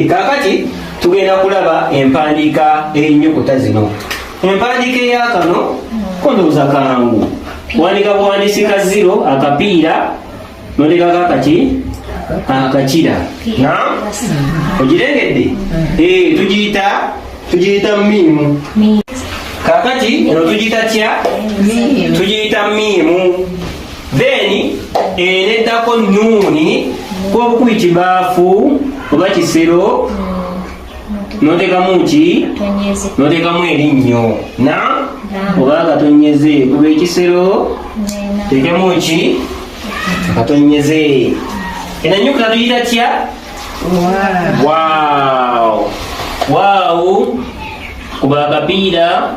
kaakati tugenda kulaba empandiika eyinnyukuta zino empandiika eyakano kondowooza kangu wandika buwandisi ka ziro akapiira nondekako akaki akakira na ogirengedde eh, tugiyita tugiyita miimu kakati eno tugiyita tya tugiyita miimu then eneddako nuuni kwobukubi kibaafu oba kisero notekamu ki notekamu erinnyo na oba katonyeze kuba ekisero tekemu ki katonyeze enanyukula tuyita tya waawo kuba akapiira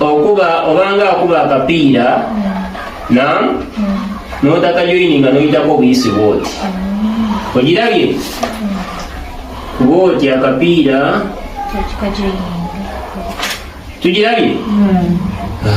okuba obanga akuba akapiira na notakajoini nga noyitako obuyisi bwoti ogirabye bwoti akapiira tugirabye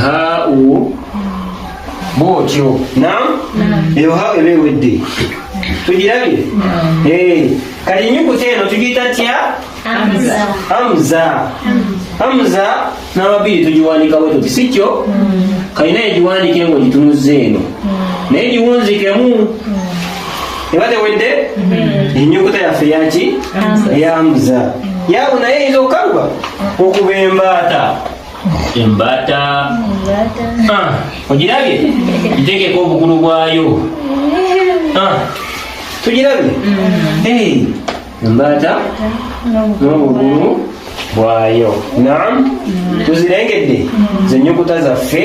ha u bwotyo nam eyo ha eba ewedde tugirabye eh, kati enyukuta eno tugiyita tya hamza hamza n'amabiri tugiwandika bwe tuti si kyo kalina egiwandika engo gitunuza eno naye giwunzikemu eba tewedde mm-hmm. enyukuta yaffe yaki yamuza yabu naye eyinza okukaluba okuba embaata embaata ah, ogirabye ntekeko obukulu bwayo ah, tugirabye mm-hmm. embaata n'obukulu bwayo nam mm-hmm. tuzirengedde zenyukuta zaffe